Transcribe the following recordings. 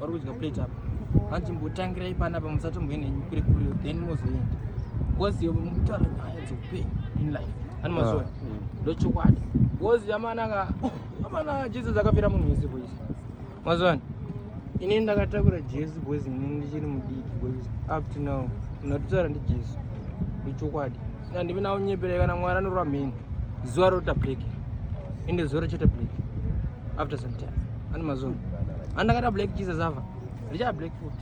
vari kudya plate apa hanzi mbotangirai panapa musatomboenenyu kure kure then mozoenda bcause mutaura nyaya dzeupenyu in life ani mazoona ah, mm. ndochokwadi bcause amanaka amana jesus akapera munhu wese boys mazoona ini ndakatakura jesu boys ini ndichiri mudiki boys up to now mnatotaura ndijesu ndochokwadi Handimi nawo nyepere kana mwari anorwa mheni. Zuva rota break. Ende zuva rochete break. After some time. Ani mazuva. Andakata black Jesus ava. Richa black foot.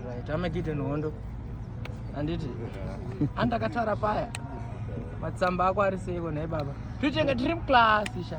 Right. Amakite nohondo. Anditi. Andakatara paya. Matsamba ako ari seiko nhai baba. Tuchenge tiri muclass sha.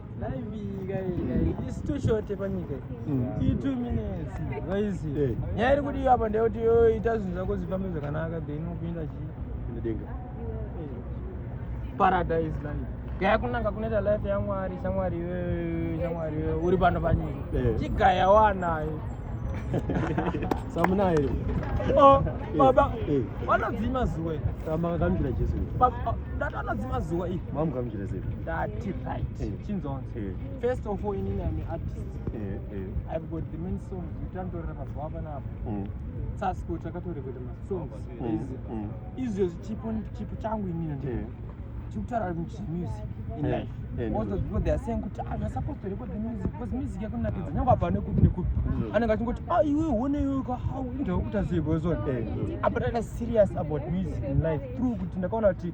nyaya iri kudiwa apa ndeyekuti yoita zvinhu zvako zvifambe zvakanaka then ukuenda chiidenga paradise life gaya kunanga kunoita life yamwari shamwari iwewe shamwari iwewe uri pano panyika eh. chigaya wanayo samunayo iri oh, eh, baba eh. vanodzima zuwa iri vanodzima zuwa iri ndati right eh. chinzonzi eh. first of all inini am artist eh, i've got the main songs utantorera mazuva apanapo mm. sasiko takatoreketa masongs mm. izvo chipo chipo changu inini ndi chikutaura kuti music in life also people they are saying kuti ah you're supposed to record the music because music yakunakidza nyangwe apa nekupi nekupi anenge achingoti ah iwe one iwe ka how ndaukuta zivozon apa tata serious about music in life through kuti ndakaona kuti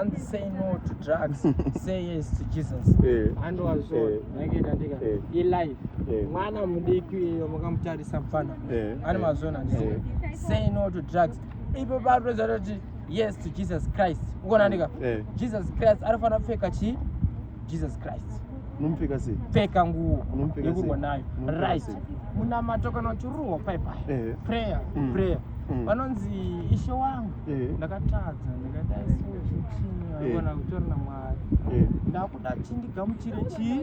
and say no to drugs say yes to jesus eh. andoazvo eh. ndange ndandika eh. ilife mwana mudiki iyo mukamutarisa mfana ane mazvona andisika say no to drugs ipo patoedza toti yes to jesus christ ukonandika jesus christ anofanira kupfeka chii jesus christ unomupfeka sei pfeka nguo yekurwa nayo right munamato kana uchiruwa paipai eh. prayer mm. prayer mm. vanonzi ishe wangu eh. ndakatadza ndakataisochinaiona eh. kutori na mwari ndakuda chindigamuchire chii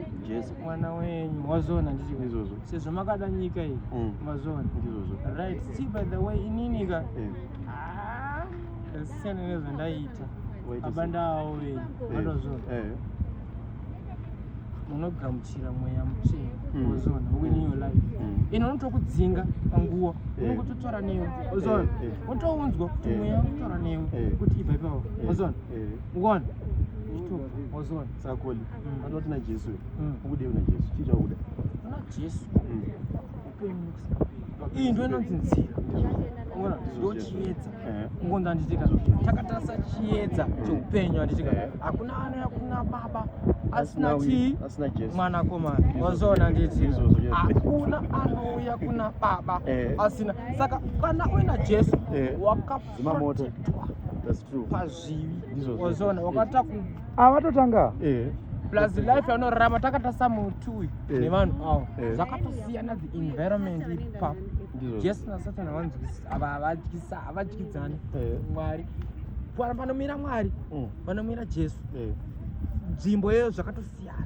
mwana wenyu wazona ndichiizvozvo sezvo makada nyika iyi mm. mazona right see by the way ininika ah, siyana nezvandaiita abandaoe vanozona eh, eh. unogamuchira mweya mutsvene mm. ozona within your life mm. ino unotokudzinga panguva eh. unongototora newe ozona unotounzwa kuti mweya unotora newe kuti ibva ipapo ozona ukona ozona sakoli mm. anoti najesu ukudei unajesu chii chaukuda unajesu iyi ndo inonzi nzira ona ndochiedza eh. kungonzi anditika takatarisa chiedza cheupenyu anditika eh. hakuna ana hakuna baba asina chii mwana komana wazoona nditi hakuna anouya kuna baba eh. asina saka kana uina jesu waka zimamota pazvivi ozona wakata ku avatotanga eh. plus life anorarama takatasa muti uyu eh. nevanhu avo eh. zvakatosiyana the environment iri pa jesu nasatan havanzwisisa havadyidzani mwari panomira mwari panomira mm. jesu nzvimbo yeyo zvakatosiyana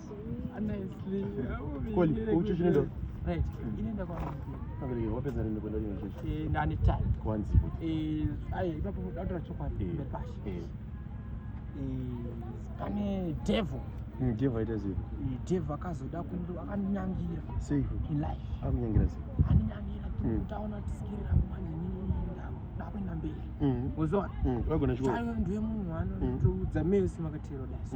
pane devil mm, devil aita sei eh, devil akazoda kundo akandinyangira sei in life akunyangira sei andinyangira mm. kuti aona kuti skiri rangu manje ndakuenda mberi mm. uzoona ndiwe munhu anotoudza mese makatero dasi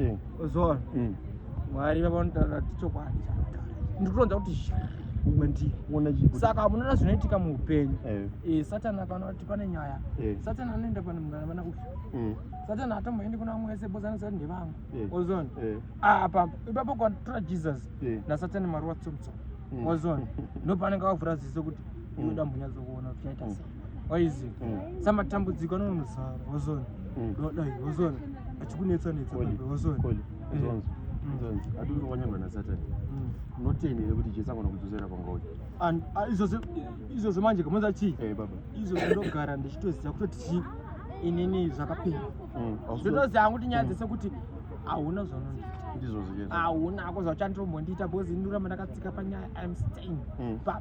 eh. uzona mm. mwari vavanotaura kuti chokwadi ndikutonza kuti kwendiri saka munoona zvinoitika muupenyu eh. eh, satani akana kuti pane nyaya eh. satani anoenda pane munhu anavana uyu mm. satani atomboendi kuna vamwe vese bozi anoziva kuti ndevamwe ozon ah, apa ipapo kwatora jesus nasatani mwari watsomutsoma ozon mm. ndopaanenge avavhura ziso kuti unoda mm. mbunyadzo kuona kuti chaita sei waizi mm. samatambudziko anonozara wozona mm. dai wozona achikunetsa netsa wozona eh. mm. ati uri wanyangwa nasatani unoteni here kuti jesu agona kudzosera kwangauya ah, ah, izvozvo manje kamonza chii eh, izvozvo ndogara ndichitoziva kutoti chii inini zvakapera zvotoziva hangu kuti nyaya dzese kuti hauna zvaunondiita ndizvozvo hauna hako zvauchandirombo ndiita bhozi inuramba ndakatsika panyaya im staying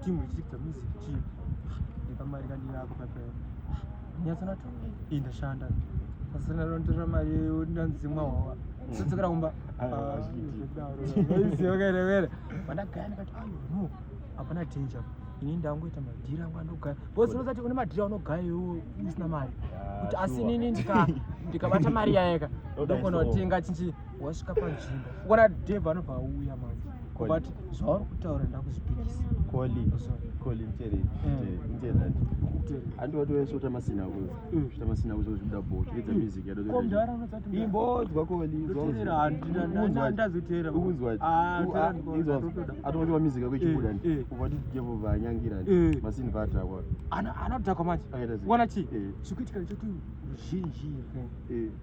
Timu ichiita music chief. Ndikamari kandi yako pepe. Nyatsa na to. Inda shanda. Sasa na ronto ra mari yo ndanzi mwa wawa. Mm. Sasa kara kumba. Ah, Isi yoga re vere. Banda gani kati ayo no. Apana danger. Ini ndangu ita madira ngwa ndoga. Boss unoza ti une madira unoga yo usina mari. Kuti asi nini ndika ndikabata mari yayeka. Ndokona tinga chinchi. wasvika panzvimbo ukona dev anobva auya manje but zvauri kutaura ndakuzvipikisa andiwati wese utamasina kutamasina kuzo zvibuda bho zviridza music yadoimbodzwa koliatonzwa music yako ichibuda uvati jevo vanyangira masini vatakwa anodhakwa manje wana chii chikuitika choti ruzhinji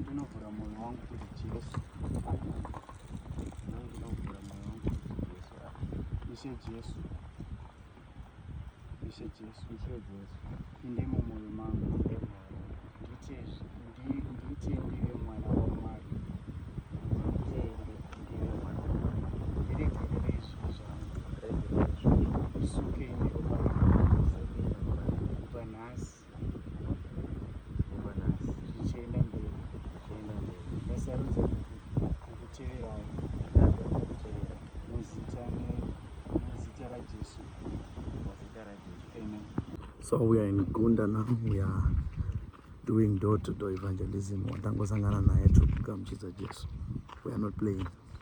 ndinovhura moyo wangu kuti jesu ndinovhura moyo wangu kuti jesu ishe jesu ishe jesu ishe jesu inde mumoyo mangu nditezve ndiite ndive mwana wamwari Vanessa. so we are in gunda now we are doing door to door evangelism watangosangana naye tiri kugamuchidza jesu we are not playing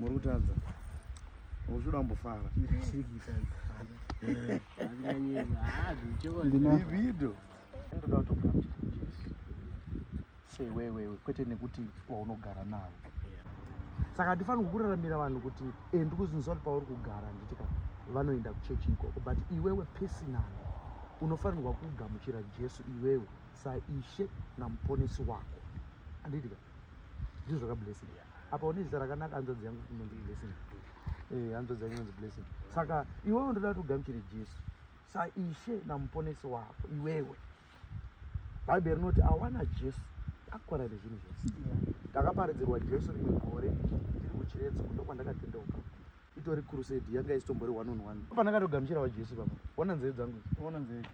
muri kutadza uchuda mbofara video ndoda sewewewe kwete nekuti waunogara navo saka handifaniri kukuraramira vanhu kuti e ndikuzinzwa kuti pauri kugara handiti ka vanoenda kuchechi ikoko but iwewe pesinani unofanirwa kugamuchira jesu iwewe saishe namuponesi wako andiitika ndizvo zvakablessing apa une zita rakanaka hanzvadzi yangu inonzi blessing eh, hanzvadzi yangu inonzi blessing saka iwewe ndoda kuti ugamuchire jesu saishe namuponesi wako iwewe bhaibheri rinoti awana jesu akwana nezvinhu zvese ndakaparidzirwa jesu rimwe gore ndiri kuchiredzo kundo kwandakatendeuka itori crusade yanga isitombori one on one pandakatogamuchirawo jesu papa ona nzeve dzangu ona nzeve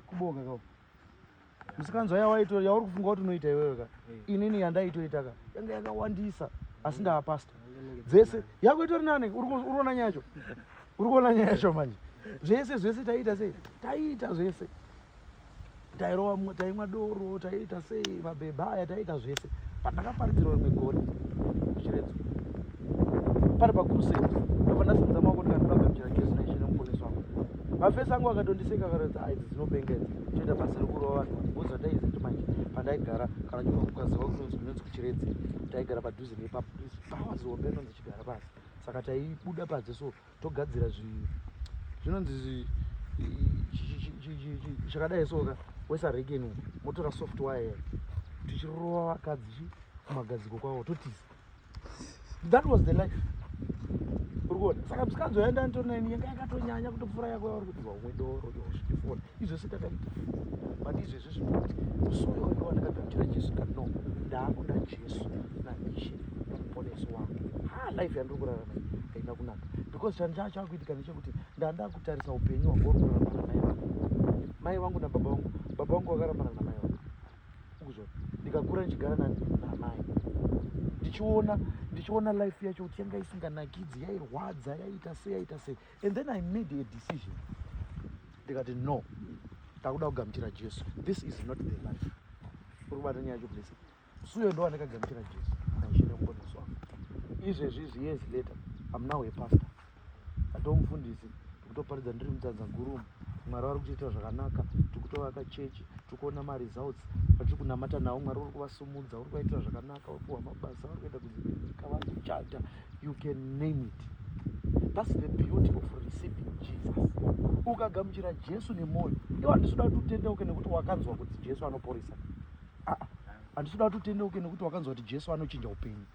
Kubonga ka. Musikanzwa yawaito yauri kufunga kuti unoita iwewe ka. Inini yandaitoita ka. Yanga yakawandisa asi ndava pastor. Dzese yako itori nani uri kuona nyacho. Uri kuona nyacho manje. Zvese zvese taita sei? Taita zvese. Tairova taimwa doro, taita sei mabhebha aya taita zvese. Pandakaparidzirwa rimwe gore. Chiredzo. pari pacrusade ndobva ndasimudza maoko ndikati ndagadzira gesi naishe nemuponesi wangu mafesi angu akatondiseka akaratidza aids dzinopenga idzi toita basa rekurova vanhu vatibuza taiziti manje pandaigara kana chinokukaziva kunonzi kunonzi kuchiredzi taigara padhuze nepapa pawazi hombe inonzi chigara pasi saka taibuda padze so togadzira zvinonzi chakadai soka wesareken motora softwire tichirova vakadzi kumagadziko kwavo totisa that was the life urikuona saka msikanzi waenda antonani yanga yakatonyanya kutopfuura yako yauri kuti vamwe doro yozvitifona izvese takaita but izvezvi zvikuti musi uyo wanga wandakagamuchira jesu ka no ndaakuda jesu naishe muponesi wangu ha life yandiri kurarama haina kunaka because chanhu chaa chaakuitika nechekuti ndanda kutarisa upenyu hwangu uri kurarama namai vangu mai vangu nababa vangu baba vangu vakarambana namai ukuzwa ndikakura ndichigara namai ndichiona ndichiona life yacho kuti yanga isinganakidzi yairwadza yaiita sei yaita sei and then i made a decision ndikati no takuda kugamuchira jesu this is not the life uri kubata nyaya yacho place suyo ndo andakagamuchira jesu naishenemukoneswa izvezvi izvi years later am now a pastor atoo mufundisi tikutoparidza ndiri mutanza gurumu mwari vari kutoita zvakanaka tikutovaka chechi tikuona maresults atiri kunamata navo mwari uri kuvasumudza uri kuvaitira zvakanaka uri kuwa mabasa vari kuita kuzivinika vari kuchata you can name it thats the beauty of receiving jesus ukagamuchira jesu nemwoyo iwo handisi kuda kuti utendeuke nekuti wakanzwa kuti jesu anoporesa ah, ah. handisi kuda kuti utendeuke nekuti wakanzwa kuti jesu anochinja upenyu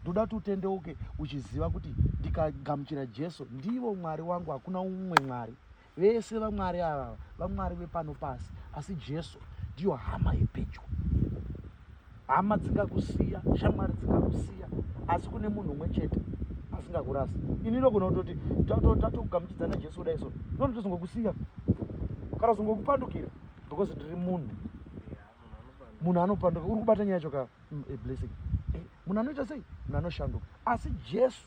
ndoda kuti utendeuke uchiziva kuti ndikagamuchira jesu ndivo mwari wangu hakuna umwe mwari vese vamwari avava vamwari vepano pasi asi jesu ndiyo hama yepedyo hama dzingakusiya shamwari dzingakusiya asi kune munhu umwe chete asingakurasi ini ndogona kutoti tatokugamuchidza najesu kudai so ndona tozongokusiya kana zongokupandukira because ndiri munhu munhu anopanduka uri kubata nyaya yacho kaa mm, a blessing eh, munhu anoita sei munhu anoshanduka asi jesu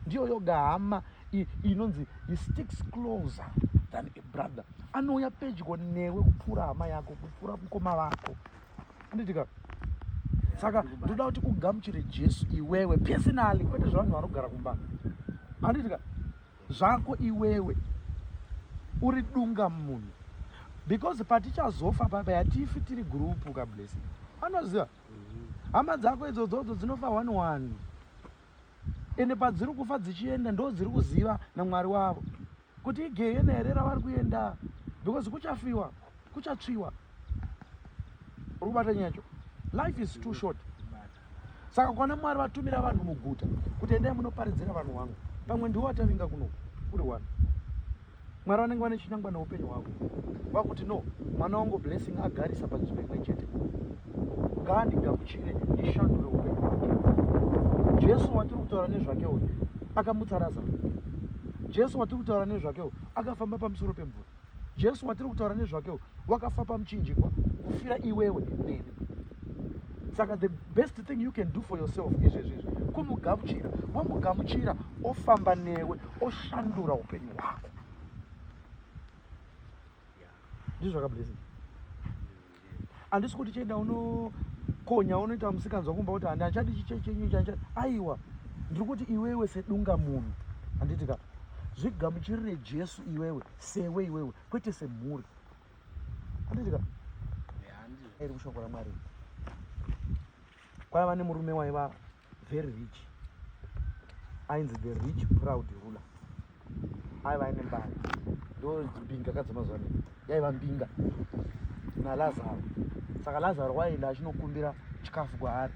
ndiyo yoga hama inonzi he sticks closer than a brother anouya pedyo newe kupfuura hama yako kupfuura mukoma vako anditika saka ndoda kuti ugamuchire jesu iwewe personally kwete zvevanhu vanogara kumba anditika zvako iwewe uri dunga munhu because patichazofa papa yatifi tiri gurupu kablessing anoziva hama dzako idzodzodzo dzinofa one one ende padziri kufa dzichienda ndo dziri kuziva namwari wavo kuti igehena here ravari kuenda because kuchafiwa kuchatsviwa uri kubata nyacho life is too short saka kwana mwari vatumira vanhu muguta kuti endai munoparidzira vanhu wangu pamwe ndiwo watavinga kuno kuri wani mwari vanenge vane chinangwa neupenyu hwavo vakuti no mwana wangu blessing agarisa panzvimbo imwe chete ngaandigamuchire ndishandure upenyu hwake jesu watiri kutaura nezvake uyu akamutsa razaro jesu watiri kutaura nezvake uyu akafamba pamusoro pemvura jesu watiri kutaura nezvake uyu wakafa pamuchinjikwa kufira iwewe neni saka the best thing you can do for yourself izvezvizvi kumugamuchira wamugamuchira ofamba newe oshandura upenyu hwako ndizvo zvakablessing handisi kuti cheda unokonya unoita musikanzwa kumba kuti handi handichadi chichechenyu chandichadi aiwa ndiri kuti iwewe sedunga munhu handiti ka zvigamuchirire jesu iwewe sewe iwewe kwete semhuri handiti ka iri kushoko ramwari kwaiva nemurume waiva very rich ainzi the rich proud ruler aiva aine mbari ndo mbinga kadzemazuva ne yaiva mbinga nalazaro saka lazaro waienda achinokumbira chikafu kwaari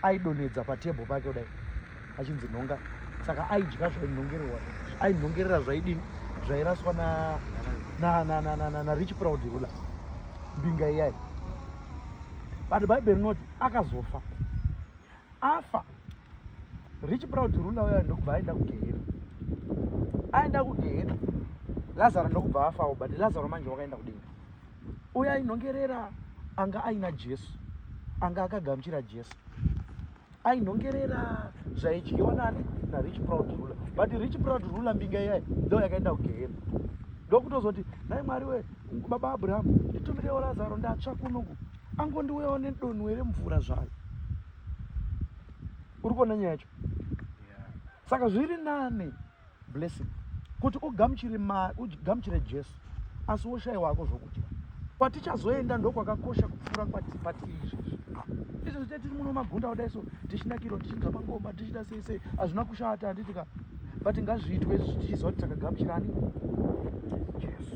aidonedza patebho pake kudai achinzi nhonga saka aidya zvainhongererwa ainhongerera zvaidini zvairaswa narich proud ruler mbinga iyai but bhaibheri rinoti akazofa afa rich proud rula uya ndokubva aenda kugehena aenda kugehena lazaro ndokubva afawo but lazaro manje wakaenda kudenga uya inhongerera anga aina jesu anga akagamuchira jesu ainhongerera zvaidyiwa nani narich proud ruler but rich proud ruler mbinga iyayi ndo yakaenda kugehena ndokutozoti dai mwari we baba abrahamu nditumirewo lazaro ndatsva kunoku angondiuyawo nedonhu here mvura zvayo uri kuona nyaya yacho saka zviri nani blessing kuti ugamuchire ma ugamuchire jesu asi woshai wako zvokudya kwatichazoenda ndokwakakosha kupfuura kwatipatiri izvezvi izvezvi te tiri muno magunda kudai so tichinakirwa tichidza mangoma tichita sei sei hazvina kushata handiti ka but ngazviitwe izvezvi tichiziva kuti takagamuchirani jesu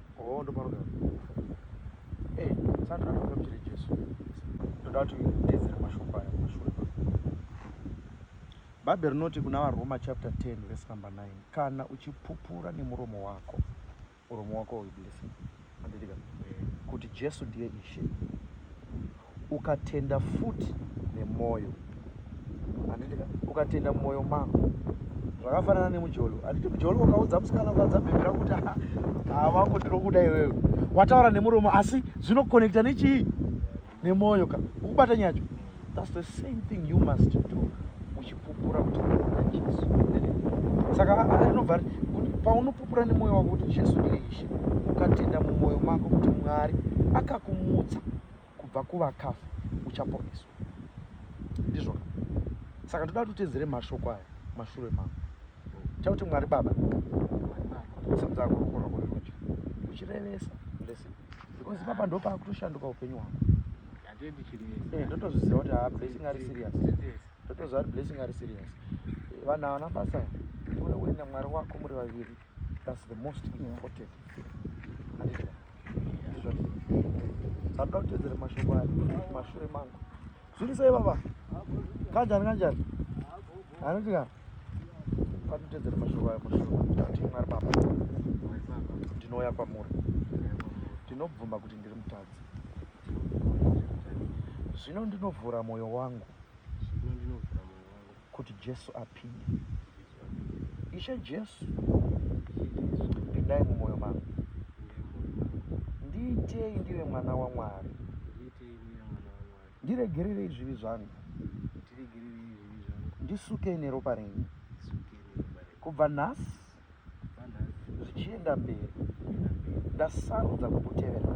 Oh, ndo panogara. Eh, hey, sasa anataka mchele Jesu. Ndoda kuti tezera mashoko aya mashure. Bhaibheri rinoti kuna vaRoma chapter 10 verse number 9, kana uchipupura nemuromo wako, muromo wako uiblessing. Andidika. Eh. Kuti Jesu ndiye Ishe. ukatenda futi nemwoyo handitika ukatenda mumwoyo mako zvakafanana nemujolo handiti mujolo ukaudza musikana ukaudza bhebhi rangu kuti havangu ndinokuda iwewe wataura nemuromo asi zvinokonekta nechii nemwoyo ka ukubata nyacho thats the same thing you must do uchipupura kuti unoda jesu saka anobva paunopupura nemwoyo wako kuti jesu ndiye ishe ukatenda mumwoyo mako kuti mwari akakumutsa kubva kuvakafa uchaponeswa ndizvoka saka ndoda kuti utedzere mashoko aya mashure mavo chakuti mwari baba simudza ruoko rwako rerudyi uchirevesa listen because papa ndo pakutoshanduka upenyu hwako eh, ndotozviziva kuti haa blessing ari serious ndotoziva kuti blessing ari serious vanhu havana basa uri uine mwari wako muri vaviri That's the most important Sanda kutedzera mashoko aya mashure mangu zviri sei baba kanjani kanjani anoti ka panotedzera mashoko aya mashure ati mwari baba ndinouya kwamuri ndinobvuma kuti ndiri mutadzi zvino ndinovhura mwoyo wangu kuti Jesu apinde. Ishe Jesu, pindai mumwoyo mangu, ndiitei ndive mwana waMwari, ndiregererei zvivi zvangu, ndisukei neropa renyu kubva nhasi zvichienda mberi ndasarudza kukutevera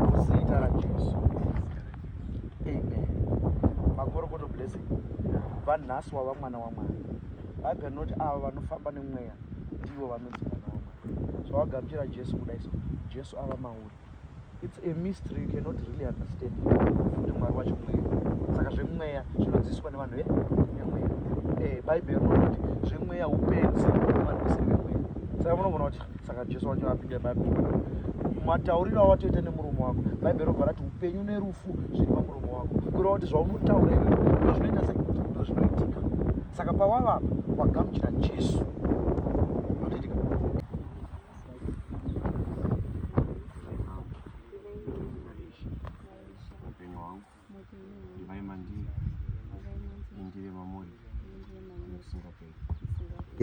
muzita rajesu amen makorokoto blessing vanhasi wava mwana wamwari bible rinoti ava vanofamba nemweya ndivo vanonzi mwana wamwari zvawagamuchira jesu kudai so jesu ava mauri It's a mystery you cannot really understand kuti mwari wacho mweya saka zvemweya zvinodzidziswa nevanhu vemweya eh, bhaibheri rinoti zvemweya upenzi vanhu vasiri vemweya saka munogona kuti saka jesu wacho apinda bhaibheri matauriro awatoita nemurume wako bhaibheri robva rati upenyu nerufu zviri pamurume wako kureva kuti zvaunotaura iwe ndozvinoita sei ndozvinoitika saka pawavapa wagamuchira jesu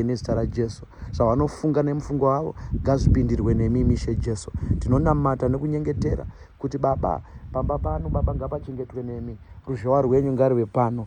nezita rajesu zvavanofunga nemufungo wavo ngazvipindirwe nemi mishe jesu tinonamata nekunyengetera kuti baba pamba pano baba ngapachengetwe nemi ruzhowa rwenyu ngaruve pano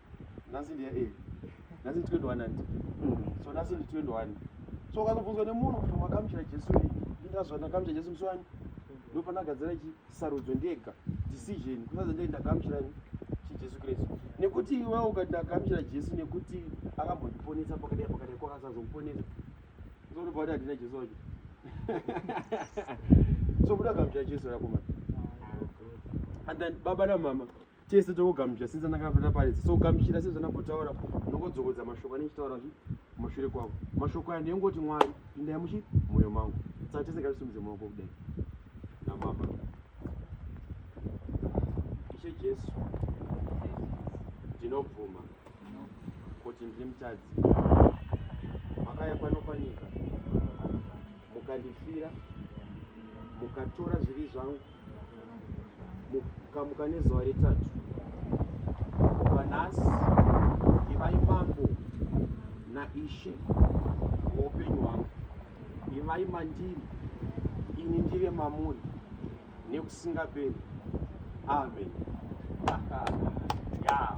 nhasi ndiya e nhasi ndi 21 handi so nhasi ndi 21 so ukatobvunzwa nemunhu kuti wakamuchira jesu ri ndinazva ndakamuchira jesu musi wani ndopanagadzira chi sarudzo ndega decision kusaza ndei ndakamuchira chijesu kristu nekuti iwe ukati ndakamuchira jesu nekuti akambondiponesa pakadai pakadai kwakasazomuponesa zvotopa kuti handina jesu wacho so kuti akamuchira jesu rakomana and then baba namama tese tokugamuchira since anakapota paridza so gamuchira sezvo anambotaura nongodzokodza mashoko anenge chitaura zvi mashure kwavo mashoko aya ndeyongoti mwari pindai muchi mwoyo mangu saka tese ngatisumidze maoko kudai namama ishe jesu ndinobvuma kuti ndiri mutadzi makaya pano panyika mukandifira mukatora zvivi zvangu mukamuka nezuva retatu kubva nhasi ivai mambo naishe woupenyu hwangu ivai mandiri ini ndive mamuri nekusingaperi amen yeah,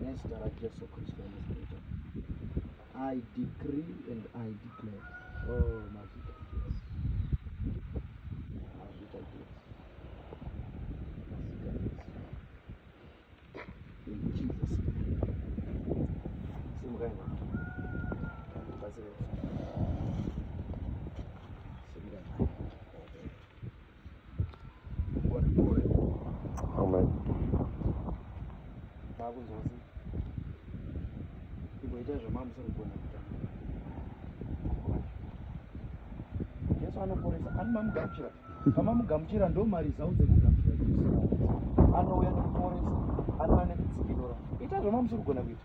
nezita rajesu kristu anozareta i decree and i declare oh, mazita jesu mazita jesu Amen. Makunzwasi. Iboita zvamamusoro kugona kuita. Jesu anoporesa. Ani mamugamuchira. Kama mugamuchira ndo mari zau dzekugamuchira. Anouya nekuporesa. Anouya nekutsikirora. Ita zvamamusoro kugona kuita.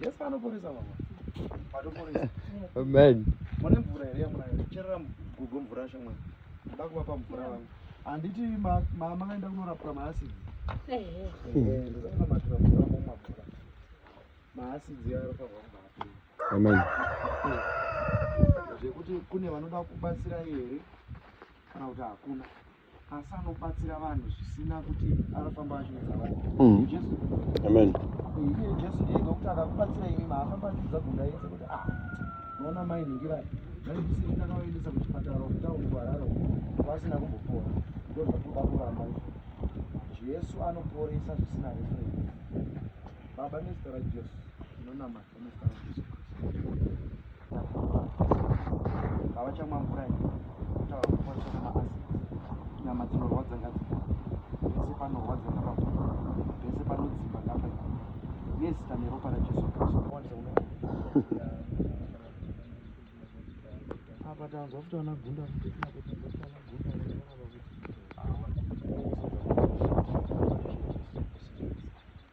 Yes, anoporesa baba. Anoporesa. Amen. Mwana mvura here yamuna cherera gugu mvura shamwa. Nda kuvapa mvura vangu. Anditi mama kaenda kunorapwa maasidi. Eh. Eh, ndosaka matira mvura mama mvura. Maasidi yaro pavwa mvura. Amen. Zvekuti kune vanoda kubatsira here kana kuti hakuna. asi anobatsira vanhu zvisina kuti anofamba achiudza vanhu mm. jesu amen iye jesu ndiye nokuti akakubatsira imi maafamba achiudza gunda yese kuti ah unoona mai ningirai vaibisei ndakavaendesa kuchipatara kutauni kuhararo vasina kumbopora ndozvatoda kuramba izvo jesu anoporesa zvisina referensi baba nezita rajesu tinonamata havachamwa mvura iyi kutaura kuti kwachona maasidi nyama dzinorwadza ngadzika pese panorwadza ngapapa pese panodzimba ngapa nezita neropa rajesu kristu apa tanzwa kuti ana gunda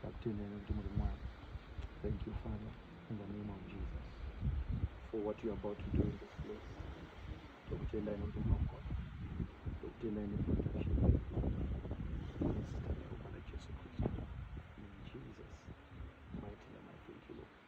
ndakutendai nekuti muri mwari thank you father in the name of jesus for what you are about to do in this place ndokutendai nekuti munogona ndokutendai neprotection nezita reropa rajesu kristu in jesus mighty name i thank you lord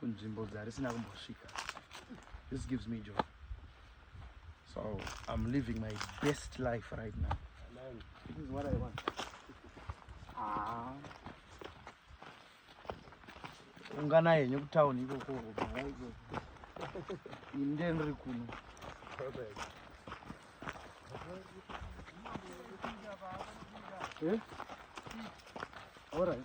kunzvimbo dzarisina kumbosvika this gives me joy so i'm living my best life right now this is what i want ah. ungana yenyu kutown ikoko ini ndiye ndiri kuno eh? all right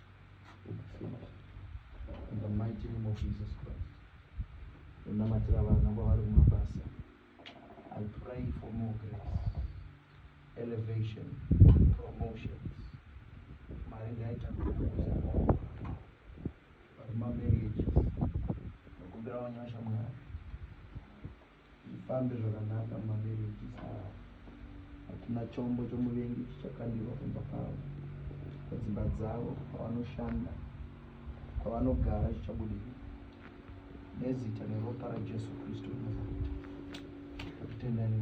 unamatira vana kwavari kumabasa i pray for more grace elevation promotions mari ngaita vari mamarriages nokumbira wanyasha mwari Zvifambe zvakanaka mumamarriages avo. Hakuna chombo chomuvengi chichakandirwa kumba kwavo. Padzimba dzavo pavanoshanda kwavanogara chichabudirira. Nezita neropa raJesu Kristu Nazareta. Tendai.